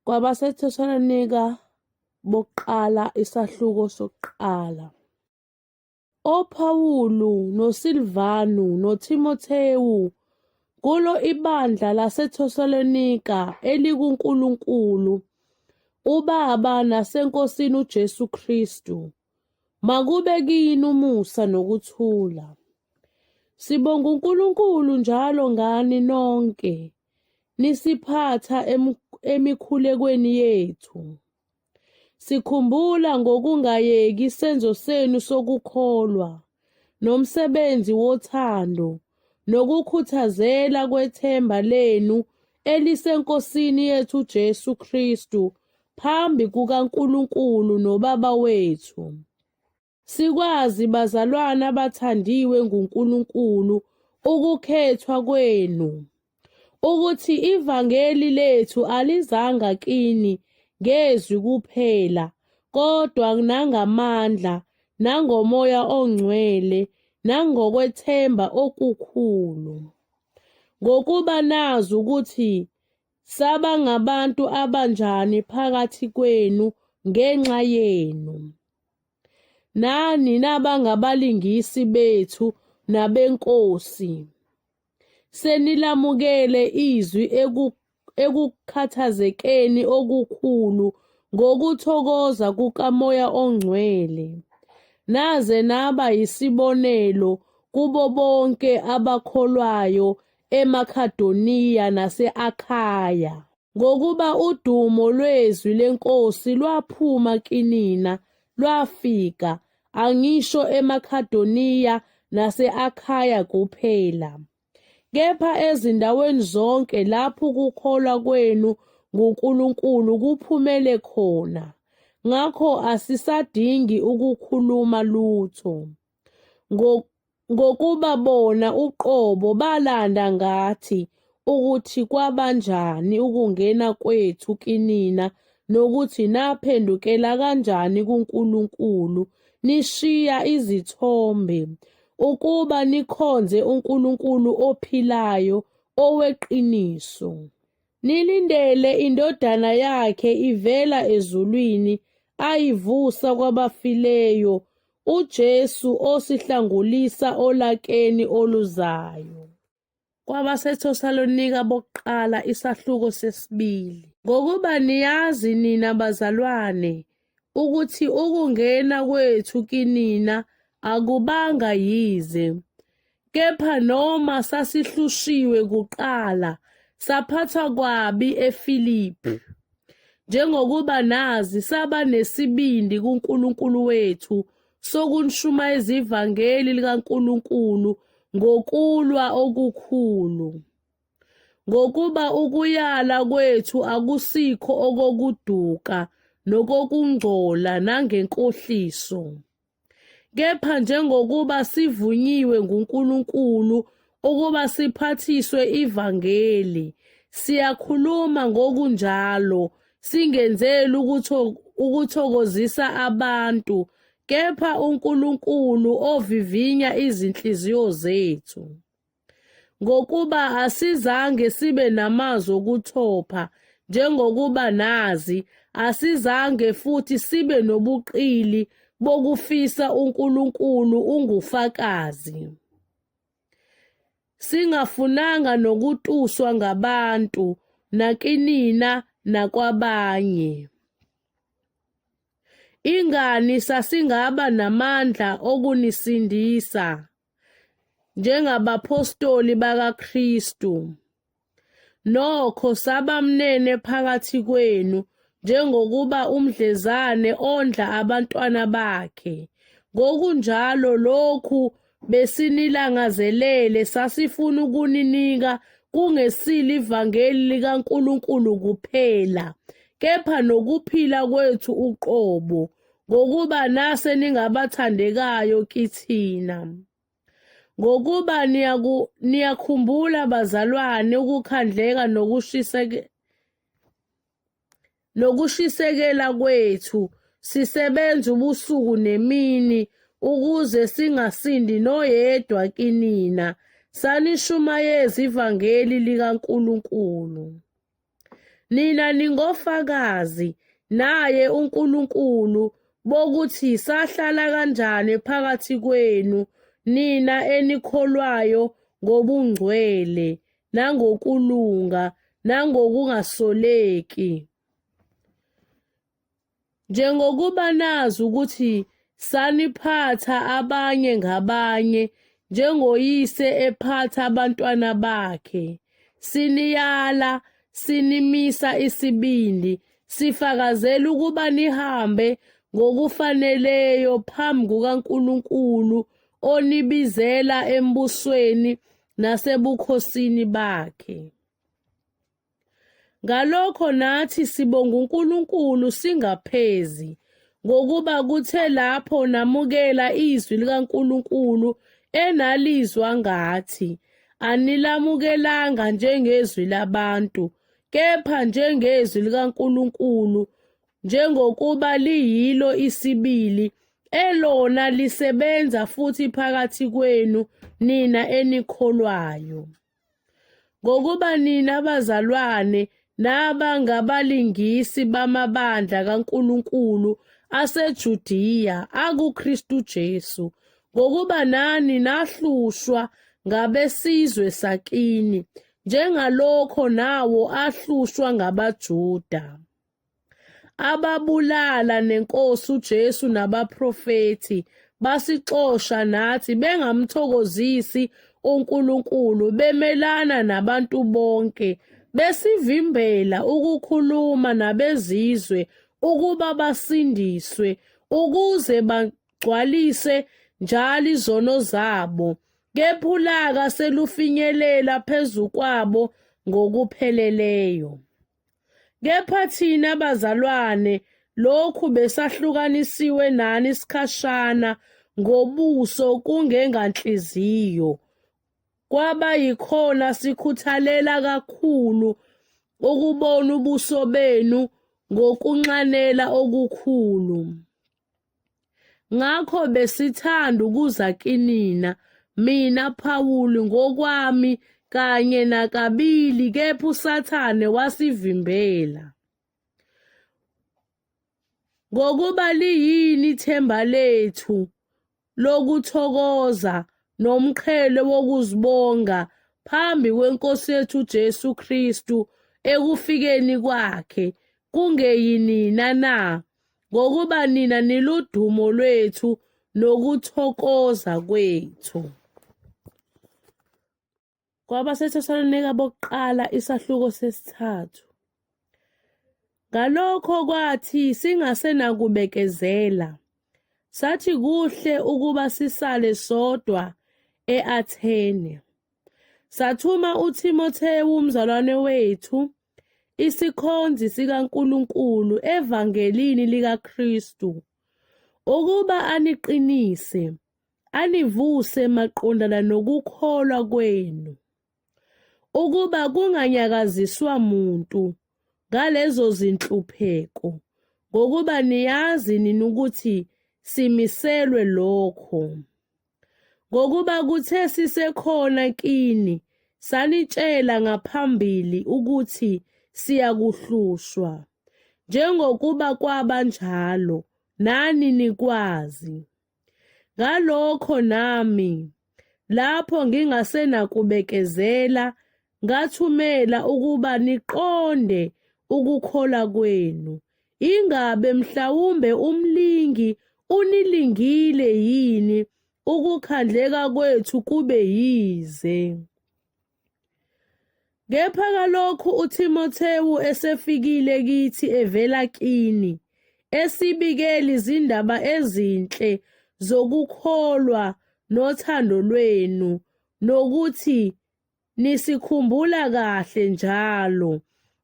Kwabasetheshalnika bokuqala isahluko sokuqala. OPhawulu noSilvanu noThimothewu kulo ibandla laseThesalonika elikuNkulunkulu uBaba naseNkosini uJesu Kristu. Makube kini umusa nokuthula. Sibonga uNkulunkulu njalo ngani nonke. lisiphatha emikhulekweni yethu. Sikhumbula ngokungayeki isenzo senu sokukholwa nomsebenzi wothando nokukhuthazela kwethemba lenu eliseNkosini yethu Jesu Kristu phambi kukaNkulunkulu noBaba wethu. Sikwazi bazalwana abathandiwe nguNkulunkulu ukukhethwa kwenu ukuthi ivangeli lethu alizanga kini ngezwi kuphela kodwa nangamandla nangomoya ongcwele nangokwethemba okukhulu ngokuba nazi ukuthi saba ngabantu abanjani phakathi kwenu ngenxa yenu nani nabangabalingisi bethu nabenkosi senilamukele izwi ekukhathazekeni okukhulu ngokuthokoza kukamoya ongcwele naze naba yisibonelo kubo bonke abakholwayo emakhadoniya nase-akhaya Ngokuba udumo lwezwi lenkosi lwaphuma kinina, lwafika, angisho eMakhadoniya nase-Akhaya kuphela, kepha ezindaweni zonke lapho ukukholwa kwenu nguNkulunkulu kuphumele khona, ngakho asisadingi ukukhuluma lutho. ngokuba bona uqobo balanda ngathi ukuthi kwabanjani ukungena kwethu kinina nokuthi naphendukela kanjani kuNkulunkulu nishiya izithombe ukuba nikhonze uNkulunkulu ophilayo oweqiniso. Nilindele indodana yakhe ivela ezulwini ayivusa kwabafileyo uJesu osihlangulisa olakeni oluzayo. KwabaseThesalonika bokuqala isahluko sesibili. Ngokuba niyazi nina bazalwane, ukuthi ukungena kwethu kinina akubanga yize, kepha noma sasihlushiwe kuqala saphathwa kwabi eFilipi, njengokuba nazi saba nesibindi kuNkulunkulu wethu sokunishumayeza ivangeli likaNkulunkulu ngokulwa okukhulu. Ngokuba ukuyala kwethu akusikho okokuduka nokokungcola nangenkohliso, kepha njengokuba sivunyiwe nguNkulunkulu ukuba siphathiswe ivangeli, siyakhuluma ngokunjalo singenzeli ukuthokozisa abantu kepha uNkulunkulu ovivinya izinhliziyo zethu. ngokuba asizange sibe namazwi okuthopha njengokuba nazi asizange futhi sibe nobuqili bokufisa uNkulunkulu ungufakazi singafunanga nokutuswa ngabantu nakinina nakwabanye ingani sasingaba namandla okunisindisa njengabaphostoli bakaKristu. Nokho sabamnene phakathi kwenu njengokuba umdlezane ondla abantwana bakhe. Ngokunjalo lokhu besinilangazelele sasifuna ukuninika kungesilo ivangeli likaNkulunkulu kuphela kepha nokuphila kwethu uqobo ngokuba nase ningabathandekayo kithina. Ngokuba niyakhumbula bazalwane ukukhandleka nokushiseke nokushisekela kwethu sisebenza ubusuku nemini ukuze singasindi noyedwa kinina sanishumayeza ivangeli likaNkulunkulu. Nina ningofakazi naye uNkulunkulu bokuthi sahlala kanjani phakathi kwenu nina enikholwayo ngobungcwele nangokulunga nangokungasoleki. Njengokuba nazi ukuthi saniphatha abanye ngabanye njengoyise ephatha abantwana bakhe, siniyala, sinimisa isibindi, sifakazela ukuba nihambe ngokufaneleyo phambi kukaNkulunkulu onibizela embusweni nasebukhosini bakhe. Ngalokho nathi sibonga uNkulunkulu singaphezi ngokuba kuthe lapho namukela izwi likaNkulunkulu enalizwa ngathi anilamukelanga njengezwi labantu kepha njengezwi likaNkulunkulu njengokuba liyilo isibili elona lisebenza futhi phakathi kwenu nina enikholwayo. Ngokuba nina bazalwane naba ngabalingisi bamabandla kaNkulunkulu aseJudiya akuKristu Jesu, ngokuba nani nahlushwa ngabesizwe sakini, njengalokho nawo ahlushwa ngabaJuda. ababulala nenkosi uJesu nabaprofethi basixosha nathi bengamthokozisi uNkulunkulu bemelana nabantu bonke besivimbela ukukhuluma nabezizwe ukuba basindiswe ukuze bagcwalise njalo izono zabo kephulaka selufinyelela phezu kwabo ngokupheleleyo Kepha thina bazalwane lokhu besahlukanisiwe nani isikhashana ngobuso kungenganhliziyo kwaba yikhona sikhuthalela kakhulu ukubona ubuso benu ngokunxanela okukhulu. ngakho besithanda ukuza kinina mina Phawuli ngokwami kanye nakabili kepha uSathane wasivimbela ngokuba liyini ithemba lethu lokuthokoza nomqhele wokuzibonga phambi kweNkosi yethu Jesu Kristu ekufikeni kwakhe kungeyinina na ngokuba nina niludumo lwethu nokuthokoza kwethu kwabaseThesalonika bokuqala isahluko sesithathu. Ngalokho kwathi singasenakubekezela, sathi kuhle ukuba sisale sodwa e-Athene. Sathuma uThimothewu umzalwane wethu, isikhonzi sikaNkulunkulu evangelini likaKristu, ukuba aniqinise anivuse maqondana nokukholwa kwenu, ukuba kunganyakaziswa muntu ngalezo zinhlupheko, ngokuba niyazi nina ukuthi simiselwe lokho. Ngokuba kuthe sisekhona kini, sanitshela ngaphambili ukuthi siyakuhlushwa, njengokuba kwaba njalo, nani nikwazi. Ngalokho nami, lapho ngingasenakubekezela, ngathumela ukuba niqonde ukukhola kwenu, ingabe mhlawumbe umlingi unilingile yini ukukhandleka kwethu kube yize. Kepha kalokhu uThimothewu esefikile kithi evela kini, esibikela izindaba ezinhle zokukholwa nothando lwenu, nokuthi nisikhumbula kahle njalo,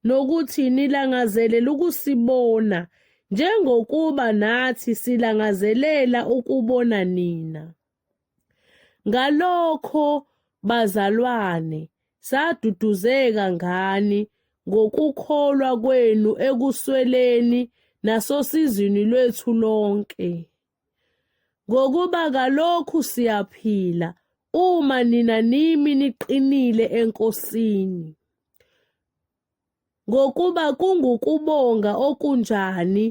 nokuthi nilangazelela ukusibona, njengokuba nathi silangazelela ukubona nina. Ngalokho bazalwane, saduduzeka ngani ngokukholwa kwenu ekusweleni nasosizini lwethu lonke. Ngokuba kalokhu siyaphila uma nina nimi niqinile eNkosini. Ngokuba kungukubonga okunjani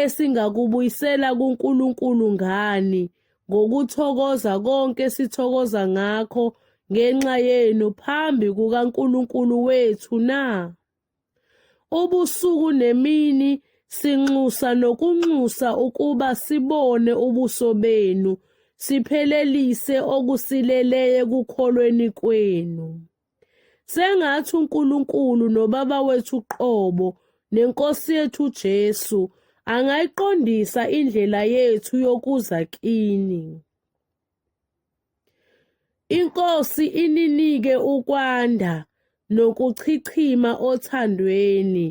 esingakubuyisela kuNkulunkulu ngani ngokuthokoza konke sithokoza ngakho ngenxa yenu phambi kukaNkulunkulu wethu na? Ubusuku nemini sinxusa nokunxusa ukuba sibone ubuso benu siphelelise okusileleye kukholweni kwenu. sengathi uNkulunkulu nobaba wethu uqobo nenkosi yethu uJesu angayiqondisa indlela yethu yokuza kini inkosi ininike ukwanda nokuchichima othandweni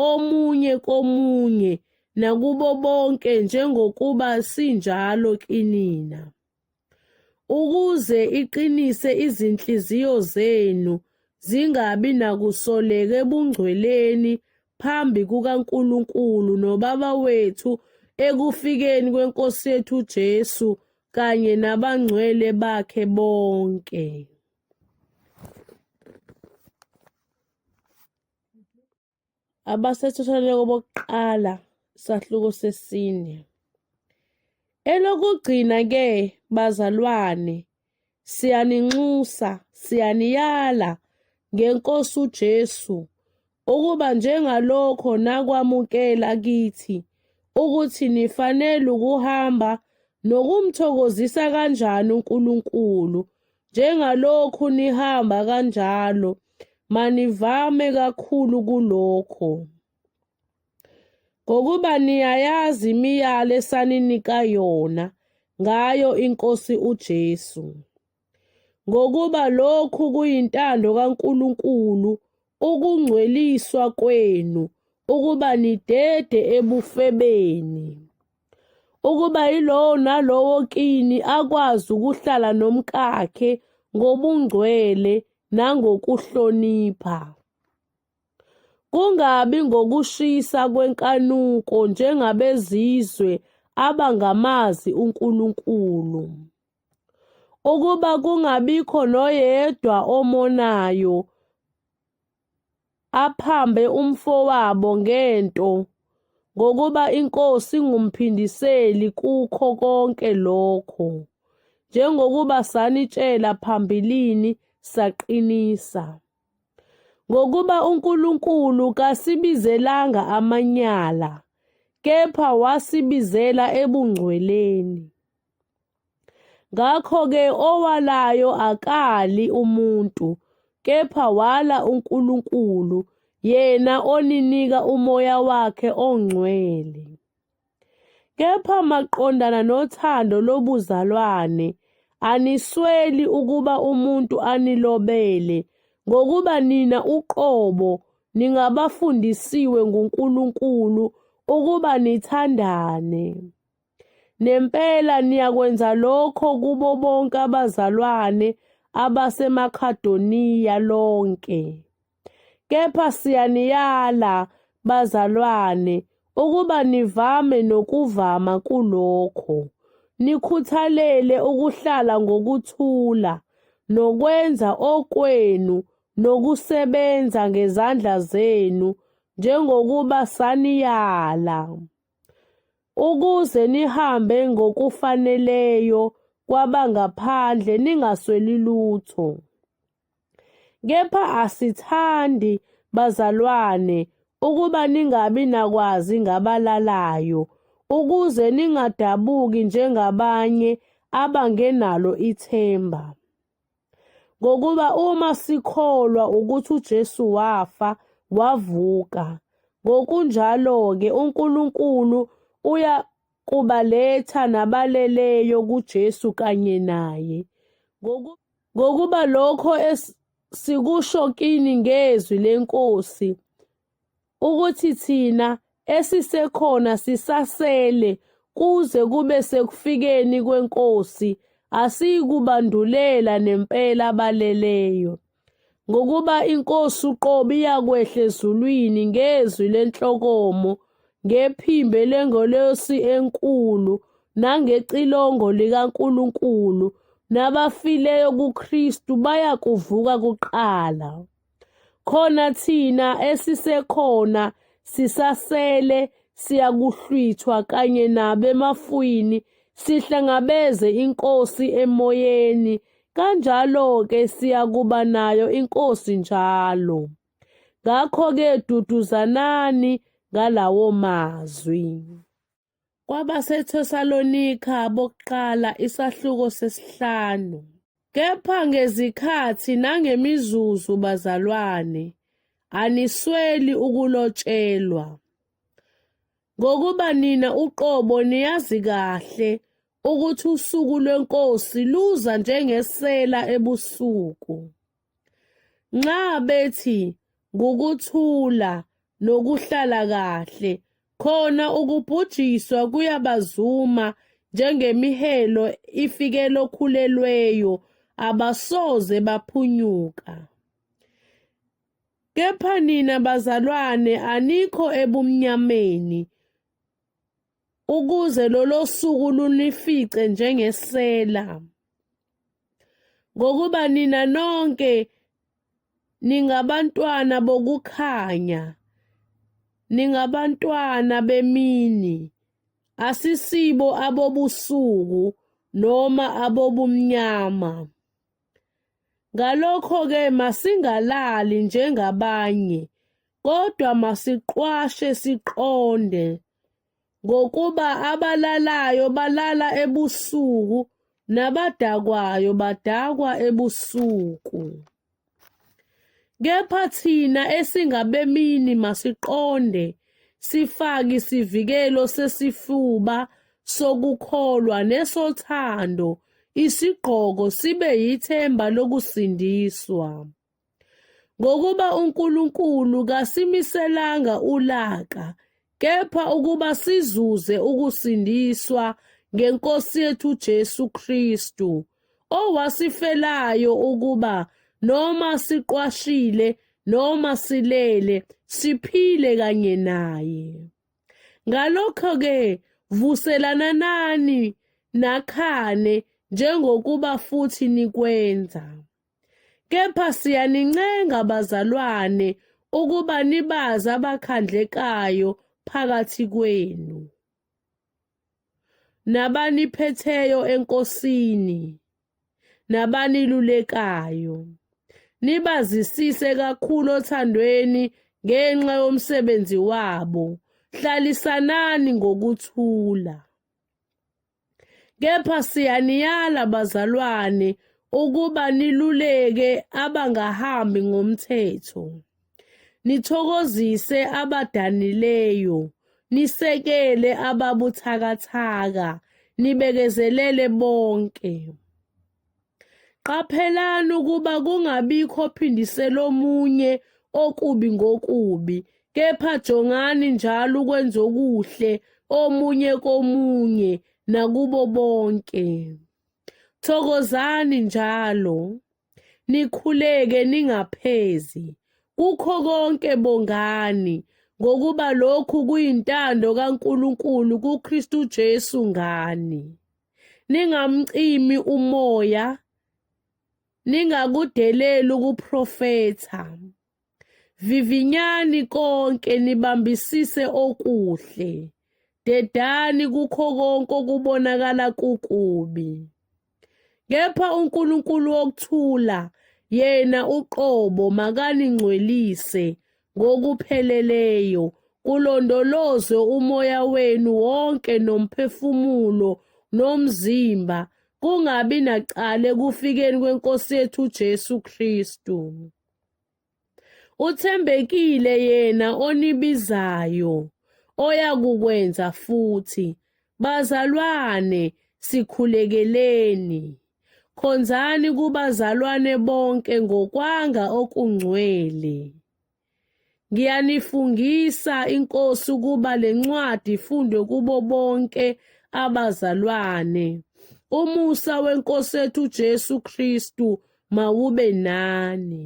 omunye komunye nakubo bonke njengokuba sinjalo kinina ukuze iqinise izinhliziyo zenu zingabi nakusoleka ebungcweleni phambi kukaNkulunkulu noBaba wethu ekufikeni kweNkosi yethu Jesu kanye nabangcwele bakhe bonke. abasethotholeko bokuqala sahluko sesine. Elokugcina-ke, bazalwane, siyaninxusa, siyaniyala ngeNkosi uJesu ukuba njengalokho nakwamukela kithi ukuthi nifanele ukuhamba nokumthokozisa kanjani uNkulunkulu njengalokhu nihamba kanjalo manivame kakhulu kulokho ngokuba niyayazi imiyalo esaninika yona ngayo inkosi uJesu ngokuba lokhu kuyintando kaNkuluNkulu ukungcweliswa kwenu ukuba nidede ebufebeni ukuba yilowo nalowo kini akwazi ukuhlala nomkakhe ngobungcwele nangokuhlonipha. Kungabi ngokushisa kwenkanuko njengabezizwe abangamazi uNkulunkulu. Ukuba kungabikho noyedwa omonayo aphambe umfowabo ngento ngokuba inkosi ngumphindiseli kukho konke lokho njengokuba sanitshela phambilini saqinisa ngokuba uNkulunkulu kasibizelanga amanyala kepha wasibizela ebungcweleni Ngakho-ke owalayo akali umuntu, kepha wala uNkulunkulu, yena oninika umoya wakhe ongcwele. Kepha maqondana nothando lobuzalwane, anisweli ukuba umuntu anilobele, ngokuba nina uqobo ningabafundisiwe nguNkulunkulu ukuba nithandane. Nempela niyakwenza lokho kubo bonke abazalwane abaseMakhadoniya lonke. Kepha siyaniyala, bazalwane, ukuba nivame nokuvama kulokho, nikhuthalele ukuhlala ngokuthula, nokwenza okwenu, nokusebenza ngezandla zenu, njengokuba saniyala. ukuze nihambe ngokufaneleyo kwabangaphandle ningasweli lutho. Kepha asithandi bazalwane ukuba ningabi nakwazi ngabalalayo ukuze ningadabuki njengabanye abangenalo ithemba. Ngokuba uma sikholwa ukuthi uJesu wafa, wavuka, ngokunjalo-ke uNkulunkulu uya kubaletha nabaleleyo kuJesu kanye naye. Ngokuba lokho sikusho kini ngezwi leNkosi, ukuthi thina esisekhona sisasele kuze kube sekufikeni kwenkosi asiyikubandulela nempela abaleleyo ngokuba inkosi uqobo iyakwehla ezulwini ngezwi lenhlokomo ngephimbo lengelosi enkulu nangecilongo likaNkulunkulu nabafileyo kuKristu bayakuvuka kuqala. khona thina esisekhona sisasele siyakuhlwithwa kanye nabemafwini sihlangabeze inkosi emoyeni kanjalo-ke siyakuba nayo inkosi njalo ngakho-ke duduzanani ngalawo mazwi KwabaseThesalonika bokuqala isahluko sesihlanu. Kepha ngezikhathi nangemizuzu bazalwane, anisweli ukulotshelwa. Ngokuba nina uqobo niyazi kahle ukuthi usuku lweNkosi luza njengesela ebusuku. Nxa bethi ngukuthula nokuhlala kahle khona ukubhujiswa kuyabazuma njengemihelo ifikela okhulelweyo abasoze baphunyuka. Kepha nina bazalwane anikho ebumnyameni ukuze lolo suku lunifice njengesela, ngokuba nina nonke ningabantwana bokukhanya, ningabantwana bemini, asisibo abobusuku noma abobumnyama. Ngalokho-ke masingalali njengabanye, kodwa masiqwashe siqonde. ngokuba abalalayo balala ebusuku nabadakwayo badakwa ebusuku. Kepha thina esingabemini masiqonde sifake isivikelo sesifuba sokukholwa nesothando isigqoko sibe yithemba lokusindiswa. Ngokuba uNkulunkulu kasimiselanga ulaka, kepha ukuba sizuze ukusindiswa ngeNkosi yethu Jesu Kristu, owasifelayo ukuba noma siqwashile noma silele siphile kanye naye. Ngalokho-ke vuselananani nakhane njengokuba futhi nikwenza. Kepha siyanincenga bazalwane ukuba nibazi abakhandlekayo phakathi kwenu nabaniphetheyo enkosini nabanilulekayo nibazisise kakhulu othandweni ngenxa yomsebenzi wabo hlalisanani ngokuthula Kepha siyaniyala bazalwane ukuba niluleke abangahambi ngomthetho, nithokozise abadanileyo, nisekele ababuthakathaka, nibekezelele bonke. Qaphelani ukuba kungabikho ophindisela omunye okubi ngokubi, kepha jongani njalo ukwenza okuhle omunye komunye nakubo bonke. Thokozani njalo, nikhuleke ningaphezi. Kukho konke bongani, ngokuba lokhu kuyintando kaNkulunkulu kuKristu Jesu ngani. ningamcimi umoya ningakudeleli ukuprofetha vivinyani konke nibambisise okuhle dedani kukho konke okubonakala kukubi kepha uNkulunkulu wokuthula yena uqobo makaningcwelise ngokupheleleyo kulondolozwe umoya wenu wonke nomphefumulo nomzimba kungabi nacala ekufikeni kwenkosi yethu uJesu Kristu uthembekile yena onibizayo oyakukwenza futhi bazalwane sikhulekeleni Khonzani kubazalwane bonke ngokwanga okungcwele. Ngiyanifungisa inkosi ukuba lencwadi ifundwe kubo bonke abazalwane. Umusa wenkosi ethu Jesu Kristu mawube nani.